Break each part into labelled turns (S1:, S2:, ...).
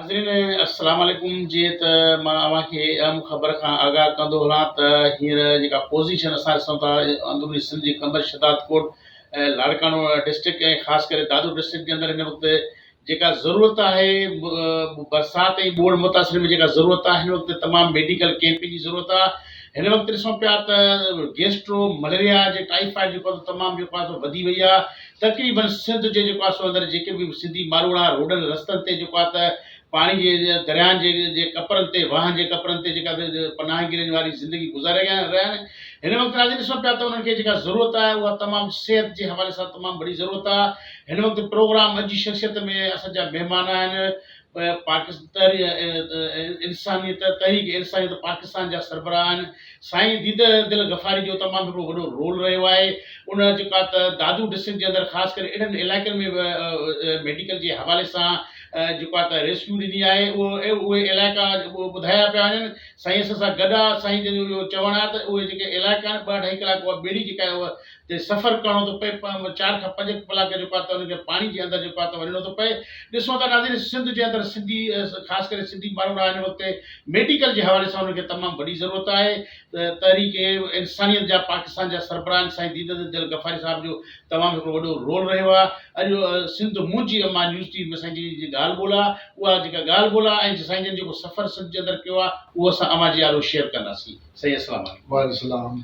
S1: ناظرين السلام عليڪم جيئن ته مان اوهان کي اهم خبر کان آگاهه ڪندو هلان ته هينئر جيڪا پوزيشن اسان ڏسون ٿا اندروني سنڌ جي قمبر شهداد ڪوٽ ۽ لاڙڪاڻو ڊسٽرڪٽ ۽ خاص ڪري دادو ڊسٽرڪٽ جي اندر هن وقت جيڪا ضرورت آهي برسات ۽ ٻوڙ متاثرين ۾ جيڪا ضرورت آهي هن وقت تمام ميڊيڪل ڪيمپنگ جي ضرورت آهي هن وقت ڏسون پيا ته گيسٽرو مليريا جي ٽائيفائيڊ جيڪو تمام جيڪو آهي سو وڌي وئي آهي تقريباً سنڌ جي جيڪو آ سو اندر جيڪي به سنڌي ماروئڙا روڊن رستن تي جيڪو آ ته پاڻي جي درياهن جي جي ڪپرن تي واهن جي ڪپرن تي جيڪا پناهگيرن واري زندگي گذاري رهيا رهيا آهن هن وقت راڄي ڏسون پيا ته انهن کي جيڪا ضرورت آهي اها تمام صحت جي حوالي سان تمام وڏي ضرورت آهي هن وقت پروگرام اڄ جي شخصيت ۾ اسان جا مهمان آهن پاڪستان تحريڪ انسانيت تحريڪ انسانيت پاڪستان جا سربراهن سائين ديده دل غفاري جو تمام هڪڙو وڏو رول رهيو آهي ان جيڪا ته دادو ڊسٽرڪٽ جي اندر خاص ڪري اهڙن علائقن ۾ به ميڊيڪل جي حوالي سان جيڪا ته ريسڪيو ڏني آهي اهو اهي علائقا ٻڌايا پيا وڃن سائين اسان سان گڏ آهي سائين جن جو اهو چوڻ آهي ته اهي جيڪي علائقا آهن ٻه اڍائي ڪلاڪ اها ٻيڙي جيڪا تي سفر ڪرڻو ٿو پئي چار کان پنج ڪلاڪ جيڪو آهي ته ان کي پاڻي جي اندر جيڪو آهي ته وڃڻو ٿو پئي ڏسون ٿا ناظرين سنڌ جي اندر سنڌي خاص ڪري سنڌي ماڻهو رهيا آهن اتي ميڊيڪل جي حوالي سان انهن کي تمام وڏي ضرورت آهي تحريڪ انسانيت جا پاڪستان جا سربراهه آهن سائين ديد دل غفاري صاحب جو تمام هڪڙو وڏو رول رهيو آهي اڄ سنڌ منهنجي اما نيوز ٽي ۾ سائين جن جي ڳالهه ٻولهه آهي اها جيڪا ڳالهه ٻولهه آهي ۽ سائين جن جيڪو سفر سنڌ جي اندر ڪيو آهي اهو اسان اوهان جي آڏو شيئر ڪنداسين سائين السلام عليڪم وعليڪم السلام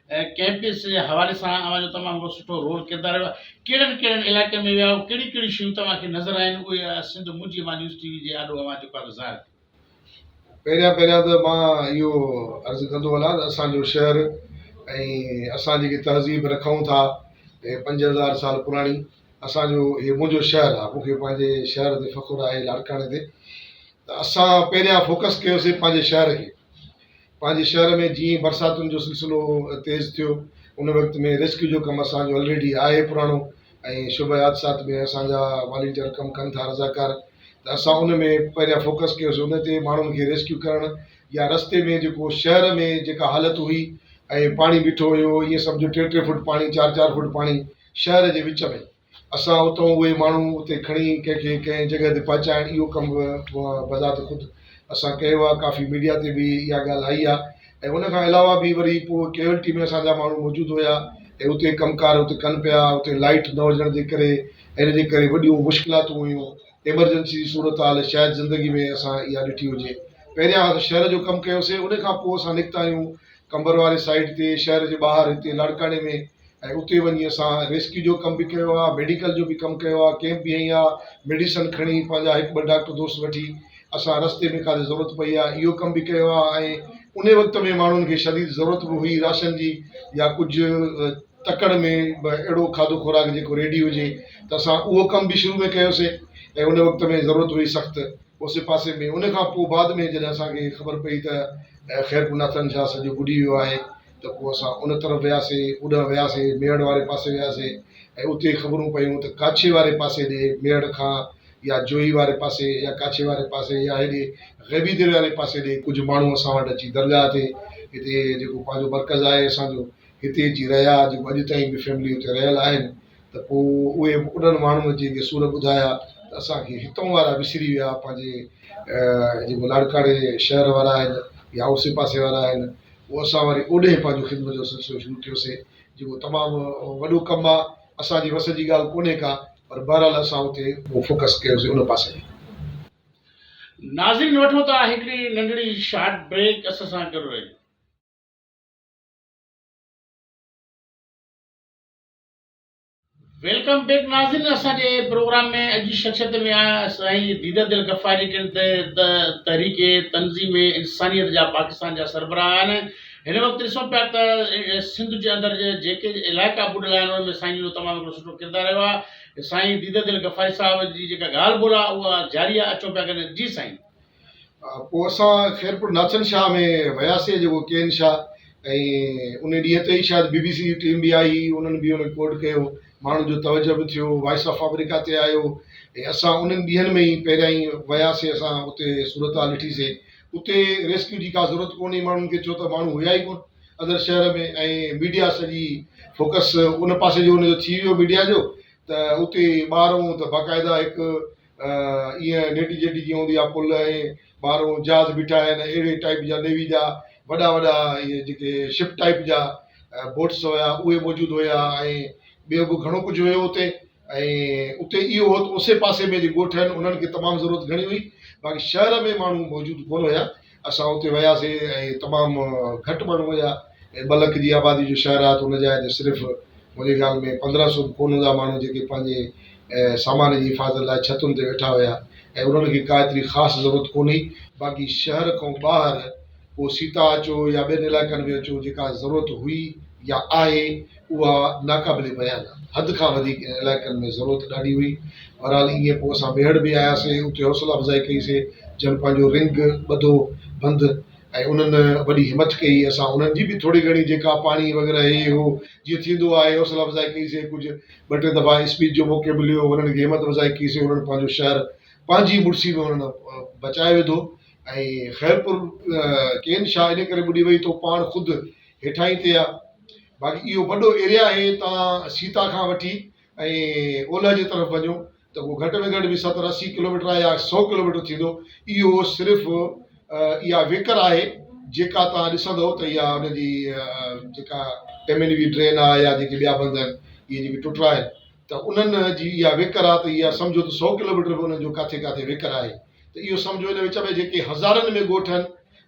S1: ڪئمپس جي حوالي سان اوهان جو تمام وڏو سٺو رول ڪردار رهيو آهي ڪهڙن ڪهڙن علائقن ۾ ويا هئا ڪهڙيون ڪهڙيون شيون توهان کي نظر آيون اهي سنڌ منهنجي مان نيوز ٽي وي جي آڏو اوهان جو قد ظاهر ڪيو پهريان
S2: پهريان ته مان اهو عرض ڪندو هلان ته اسان جو شهر ۽ اسان جيڪي تهذيب رکون ٿا اهي پنج هزار سال پراڻي اسان جو اهي منهنجو شهر آهي مون کي پنهنجي شهر تي فخر آهي لاڙڪاڻي تي ته اسان پهريان فوڪس ڪيوسي پنهنجي شهر کي پنهنجي شهر ۾ جيئن ئي برساتن جو سلسلو تيز ٿيو ان وقت ۾ ريسڪيو جو ڪم اسان جو الريڊي آهي پراڻو ۽ شعبه حادثات ۾ اسان جا والينٽيئر ڪم ڪن ٿا رضاڪار ته اسان ان ۾ پهريان فوڪس ڪيوسي ان تي ماڻهن کي ريسڪيو ڪرڻ يا رستي ۾ جيڪو شهر ۾ جيڪا حالت هئي ۽ پاڻي بيٺو هيو ائين سمجهو ٽي ٽي فوٽ پاڻي چار چار فوٽ پاڻي شهر جي وچ ۾ اسان اتان اهي ماڻهو اتي کڻي ڪنهن کي ڪنهن جڳهه تي پهچائڻ اهو ڪم به بذات خود اسان ڪيو آهي، ڪافي ميڊيا تي به اها ڳالهه آئي آهي ۽ ان کان علاوه به وري پوء ڪيوئلٽي ۾ اسان جا ماڻهو موجود هيا ۽ اتي ڪم ڪار اتي ڪن پيا، اتي لائيٽ نه هجڻ جي ڪري ۽ ان جي ڪري وڏيون مشڪلاتون هيون، ايمرجنسي جي صورتحال شايد زندگي ۾ اسان اها ڏٺي هجي، پهريان اسان شهر جو ڪم ڪيوسين ان کان پوء اسان نڪتا آهيون قمبر واري سائيڊ تي شهر جي ٻاهر هتي لاڙڪاڻي ۾ ۽ اتي وڃي اسان ريسڪيو جو ڪم به ڪيو آهي ميڊيڪل جو به ڪم ڪيو آهي ڪيمپ به هنئي آهي ميڊيسن کڻي پنهنجا هڪ ٻه ڊاڪٽر دوست وٺي اسان رستي ۾ ڪاٿي ضرورت پئي آهي اهو ڪم به ڪيو آهي ۽ ان وقت ۾ ماڻهن کي شديد ضرورت به هئي راشن جي يا ڪجهه تڪڙ ۾ به اهڙو کاڌو خوراڪ جيڪو ريڊي هجي ته اسان اهو ڪم به شروع ۾ ڪيوسي ۽ ان وقت ۾ ضرورت هئي سخت اوسي پاسي ۾ ان کان پوء بعد ۾ جڏهن اسانکي خبر پئي ته خيرپور ناٿن شاهه سڄو ٻڏي ويو آهي ته پوء اسان ان طرف وياسين، اوڏانهن وياسين، ميهڙ واري پاسي وياسين ۽ اتي خبرون پيون ته ڪاڇي واري پاسي ڏي ميهڙ کان يا جوهي واري پاسي يا ڪاڇي واري پاسي يا هيڏي غيبي درياء واري پاسي ڏي ڪجهه ماڻهو اسان وٽ اچي درگاهه تي هتي جيڪو پنهنجو مرڪز آهي اسان جو هتي اچي رهيا جيڪو اڄ تائين به فيملي اتي رهيل آهن. ته پوء اهي انهن ماڻهن جي به سور ٻڌايا ته اسان کي هتئون وارا وسري ويا، پنهنجي جيڪو لاڙڪاڻي شهر وارا آهن يا اوسي پاسي وارا آهن، پوء اسان وري اوڏهين پنهنجو خدمت جو سلسلو شروع ڪيوسين، جيڪو تمام وڏو ڪم آ، اسان جي وس جي ڳالهه ڪونهي ڪا، پر بهرحال اسان اتي پوء فوڪس ڪيوسين ان پاسي ۾. ناظرين وٺو ٿا هڪڙي ننڍڙي شارٽ
S1: بريڪ اسان سان گڏ رهجو. ويلڪم بيڪ ناظرين اسان جي پروگرام ۾ اڄ جي شخصيت ۾ آيا سائين ديدر دل غفار جي ڪن تي ته تحريڪ تنظيم انسانيت جا پاڪستان جا سربراهه آهن هن وقت ڏسون پيا ته سنڌ جي اندر جيڪي علائقا ٻڏل آهن ان ۾ سائين جو تمام هڪڙو سٺو ڪردار رهيو آهي سائين ديدر دل غفاري صاحب جي جيڪا ڳالهه ٻولهه آهي اها جاري آهي اچون پيا ڳڻڻ جي سائين پوء
S2: اسان خيرپور ناچن شاهه ۾ وياسي جيڪو ڪي اين شاهه ۽ انهي ڏينهن تي ئي شايد بي بي سي جي ٽيم به آئي انهن به انهي کي ڪوڊ ڪيو ماڻهن جو توجه به ٿيو وائس آف آمريڪا تي آيو ۽ اسان انهن ڏينهن ۾ ئي پهريائين وياسي اسان اتي صورتحال ڏٺي سي اتي ريسڪيو جي ڪا ضرورت ڪونه هئي ماڻهن کي ڇو ته ماڻهو هيا ئي ڪونه اندر شهر ۾ ۽ ميڊيا سڄي فوڪس ان پاسي جو ان جو ٿي ويو ميڊيا جو ته اتي ٻار هون ته باقاعده هڪ ايئن نيٽي جيٽي جيئن هوندي آ پل ۽ ٻاهرون جهاز بيٺا آهن اهڙي ٽائيپ جا نيوي جا وڏا وڏا اهي جيڪي شپ ٽائيپ جا بوٽس هيا اهي موجود هيا ۽ ٻيو به گهڻو ڪجهه هيو اتي ۽ اتي اهو هو ته اسي پاسي ۾ جي ڳوٺ آهن انهن کي تمام ضرورت گهڻي هئي باقي شهر ۾ ماڻهو موجود ڪونه هيا اسان اتي وياسين ۽ تمام گهٽ ماڻهو هيا ۽ ٻه لک جي آبادي جو شهر آهي ته ان جاء تي صرف منهنجي خيال ۾ پندرهن سو به ڪونه هوندا ماڻهو جيڪي پنهنجي سامان جي حفاظت لاء ڇتن تي ويٺا هيا ۽ انهن کي ڪا ايتري خاص ضرورت ڪونه هئي. باقي شهر کان ٻاهر ڪو سيتا اچو يا ٻين علائقن ۾ اچو جيڪا ضرورت هئي يا آهي اها ناقابل بيان آ. حد کان وڌيڪ انهن علائقن ۾ ضرورت ڏاڍي هئي. بهرحال ايئن پوء اسان ميهڙ به آياسين. اتي حوصلا افزائي ڪئي سي جن پنهنجو رنگ ٻڌو بند ۽ انهن وڏي همٿ ڪئي. اسان انهن جي به ٿوري گهڻي جيڪا پاڻي وغيره هي هو جيئن ٿيندو آهي حوصلا افزائي ڪئي سي. ڪجهه ٻه ٽي دفعا اسپيچ جو موقعو مليو انهن کي همٿ افزائي ڪئي سي. انهن پنهنجو شهر پنهنجي مڙسي ۾ انهن بچائي وڌو ۽ خيرپور ڪين شاهه ان ڪري ٻڏي وئي تو پاڻ خود هيٺاهين تي آ. باقي اهو وڏو ايريا آهي تان سيتا کان وٺي ۽ اولهه جي طرف وڃو ته ڪو گهٽ ۾ گهٽ به ستر اسي ڪلوميٽر يا سئو ڪلوميٽر ٿيندو. اهو صرف اها ويڪر آهي جيڪا توهان ڏسندئو ته اها ان جي جيڪا ٽيمين وي ڊرين آ يا جيڪي ٻيا بند آهن اهي جيڪي ٽٽرا آهن ته انهن جي اها ويڪر آ ته اها سمجهو ته سئو ڪلوميٽر به انهن جو ڪاٿي ڪاٿي ويڪر آهي ته اهو سمجهو ان وچ ۾ جيڪي هزارن ۾ ڳوٺ آهن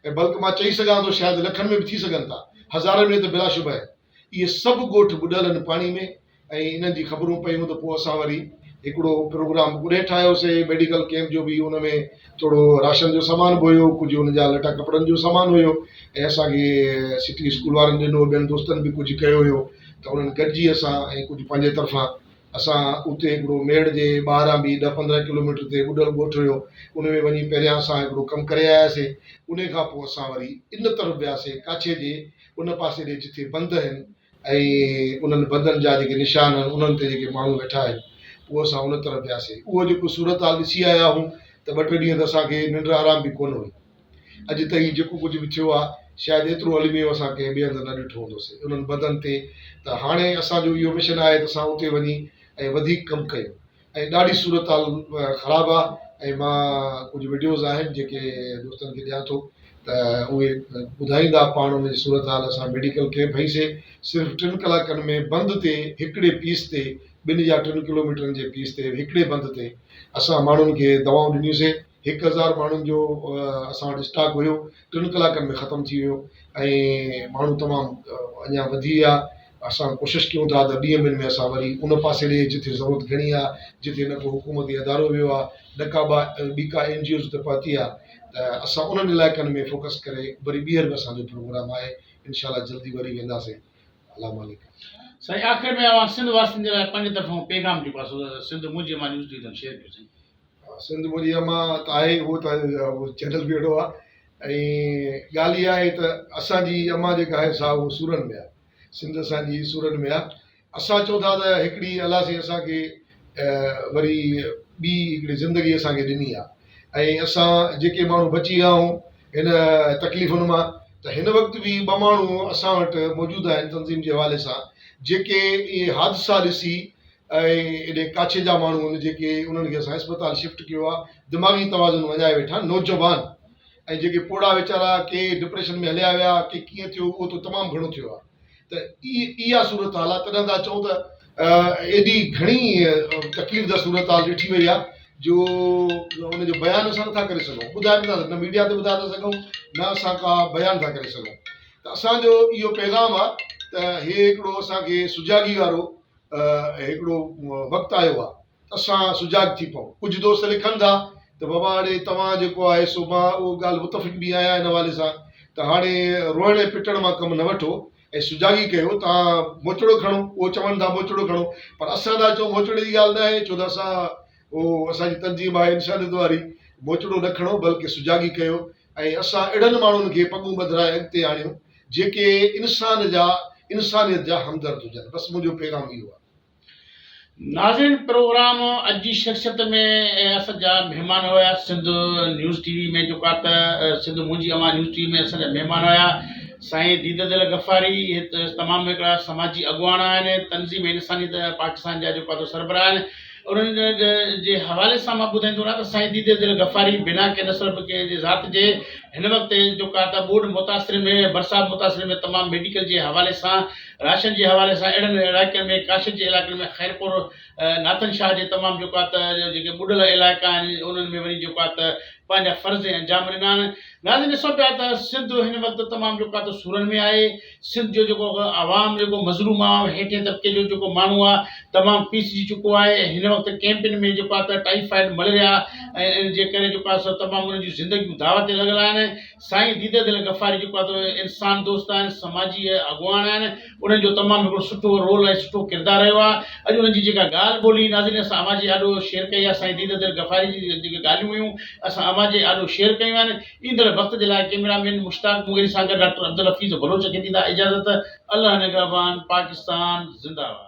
S2: ۽ بلڪ مان چئي سگهان ٿو شايد لکن ۾ به ٿي سگهن ٿا، هزارن ۾ ته بلا شبهه آهن. اهي سڀ ڳوٺ ٻڏل آهن پاڻي ۾ ۽ انهن جي خبرون پيون ته پوء اسان وري. هڪڙو پروگرام پڻ ٺاهيوسي ميڊيڪل ڪئمپ جو به ان ۾ ٿورو راشن جو سامان به هيو ڪجهه ان جا لٽا ڪپڙن جو سامان هيو ۽ اسان کي سٽي اسڪول وارن ڏنو ٻين دوستن به ڪجهه ڪيو هيو ته انهن گڏجي اسان ۽ ڪجهه پنهنجي طرفان اسان اتي هڪڙو ميڙ جي ٻاهران به ڏهه پندرهن ڪلوميٽر تي ٻڏل ڳوٺ هيو، ان ۾ وڃي پهريان اسان هڪڙو ڪم ڪري آياسين، انهيء کان پوء اسان وري ان طرف وياسين، ڪاڇي جي ان پاسي ڏي جتي بند هين، ۽ انهن بندن جا جيڪي نشان هن، انهن تي جيڪي ماڻهو ويٺا هين، پوء اسان ان طرف وياسين، اهو جيڪو صورتحال ڏسي آيا هئون ته ٻه ٽي ڏينهن ته اسان کي ننڊ آرام به ڪونه هئي. اڄ تائين جيڪو ڪجهه به ٿيو آهي، شايد ايترو الميو اسان ڪنهن ٻئي هنڌ نه ڏٺو هوندو سي انهن بدن تي ته هاڻي اسان جو اهو مشن آهي ته اسان اتي وڃي ۽ وڌيڪ ڪم ڪيون ۽ ڏاڍي صورتحال خراب آهي ۽ مان ڪجهه وڊيوز آهن جيڪي دوستن کي ڏيان ٿو ته اهي ٻڌائيندا پاڻ ان جي صورتحال اسان ميڊيڪل ڪئمپ هئي سي صرف ٽن ڪلاڪن ۾ بند تي هڪڙي پيس تي ٻن يا ٽن ڪلوميٽرن جي پيس تي هڪڙي بند تي اسان ماڻهن کي دوائون ڏنيون سي هڪ هزار ماڻهن جو اسان وٽ اسٽاڪ هيو ٽن ڪلاڪن ۾ ختم ٿي ويو ۽ ماڻهو تمام اڃا وڌي ويا اسان ڪوشش ڪيون ٿا ته ٻين ڏينهن ۾ اسان وري ان پاسي ڏي جتي ضرورت گهڻي آ جتي نه ڪو حڪومتي ادارو ويو آ نه ڪا ٻا ٻي ڪا اين جي اوز اتي پهتي آ ته اسان انهن علائقن ۾ فوڪس ڪري وري ٻيهر به اسان جو پروگرام آهي انشاء الله جلدي وري وينداسين الله مالڪ سائين آخر
S1: ۾ اوهان سنڌ واسين جي لاء پنهنجي طرفان پيغام جيڪو آ سو سنڌ منهنجي مان نيوز ڊويزن شيئر ڪيو سائين سنڌ ٻوليء
S2: مان ته آهي ئي اهو ته چينل به اهڙو آهي ۽ ڳالهه اها آهي ته اسان جي اما جيڪا آهي سا اهو سورن ۾ آهي. سنڌ اسان جي سورن ۾ آهي. اسان چئون ٿا ته هڪڙي الله سائين اسان کي وري ٻي هڪڙي زندگي اسان کي ڏني آهي ۽ اسان جيڪي ماڻهو بچي ويا آهيون هن تڪليفن مان ته هن وقت به ٻه ماڻهو اسان وٽ موجود آهن تنظيم جي حوالي سان جيڪي اهي حادثا ڏسي ۽ ايڏي ڪاڇي جا ماڻهو آهن جيڪي انهن کي اسان اسپتال شفٽ ڪيو آهي دماغي توازن وڃائي ويٺا نوجوان ۽ جيڪي پوڙها ويچارا ڪي ڊپريشن ۾ هليا ويا ڪي ڪيئن ٿيو اهو ته تمام گهڻو ٿيو آهي ته اي اها صورتحال آهي تڏهن ٿا چئون ته ايڏي گهڻي تڪليف ده صورتحال ڏٺي وئي آهي جو ان جو بيان اسان نٿا ڪري سگهون ٻڌائي نٿا نه ميڊيا تي ٻڌائي ٿا سگهون نه اسان ڪا بيان ٿا ڪري سگهون ته اسانجو اهو پيغام آهي ته هي هڪڙو اسانکي سجاڳي وارو هڪڙو وقت آيو آهي ته اسان سجاڳ ٿي پئون. ڪجهه دوست لکن ٿا ته بابا هاڻي توهان جيڪو آهي سو مان اهو ڳالهه متفق به آهيان ان حوالي سان ته هاڻي روئڻ ۽ پٽڻ مان ڪم نه وٺو ۽ سجاڳي ڪيو توهان موچڙو کڻو اهو چون ٿا موچڙو کڻو پر اسان ٿا چئون موچڙي جي ڳالهه نه آهي ڇو ته اسان اهو اسان جي تنظيم آهي انسانيت واري، موچڙو نه کڻو بلڪه سجاڳي ڪيو ۽ اسان اهڙن ماڻهن کي پڳون ٻڌرائي اڳتي آڻيو جيڪي انسان جا انسانيت جا همدرد هجن بس منهنجو پيغام اهو آهي.
S1: ناظرين پروگرام اڄ جي شخصيت ۾ اسان جا مهمان هيا سنڌ نيوز ٽي وي ۾ جيڪا ته سنڌ منهنجي اوهان نيوز ٽي وي ۾ اسان جا مهمان هيا سائين ديده دل غفاري تمام هڪڙا سماجي اڳواڻ آهن تنظيم انسانيت پاڪستان جا جيڪا ته سربراهه آهن انهن جي حوالي سان مان ٻڌائيندو رهان ته سائين ديده دل غفاري بنا ڪنهن نسل جي ذات جي هن وقت جو ڪا ته ٻوڏ متاثرين ۾ برسات متاثرين ۾ تمام ميڊيڪل جي حوالي سان راشن جي حوالي سان اهڙن علائقن ۾ ڪاشف جي علائقن ۾ خيرپور ناٿن شاهه جي تمام جو ڪا ته جيڪي ٻڏل علائقا آهن انهن ۾ وري جو ڪا ته پنهنجا فرض ۽ انجام ڏنا آهن ناظرين ڏسو پيا ته سنڌ هن وقت تمام جو ڪا ته سورن ۾ آهي سنڌ جو جيڪو عوام جيڪو مظلوم آ هيٺين طبقي جو جيڪو ماڻهو آ تمام پيسجي چڪو آهي ۽ هن وقت ڪئمپن ۾ جيڪو آ ته ٽائيفائيڊ ملريا ۽ ان جي ڪري جيڪو آ سو تمام انهن جون زندگيون داء تي لڳل آهن سائين ديده دل غفاري جيڪو آ ته انسان دوست آهن سماجي اڳواڻ آهن انهن جو تمام هڪڙو سٺو رول ۽ سٺو ڪردار رهيو آ اڄ انهن جي جيڪا ڳالهه ٻولهي ناظرين اسان اوهان جي آڏو شيئر ڪئي آ سائين ديده دل غفاري جي جيڪي ڳالهيون هيون اسان اوهان جي آڏو شيئر ڪيون آهن ايندڙ وقت جي لاء ڪيميرا مين مشتاق مغيري سان گڏ ڊاڪٽر عبدالحفيظ بلوچ کي ڏيندا اجازت الله نگهبان پاڪستان زنده باد.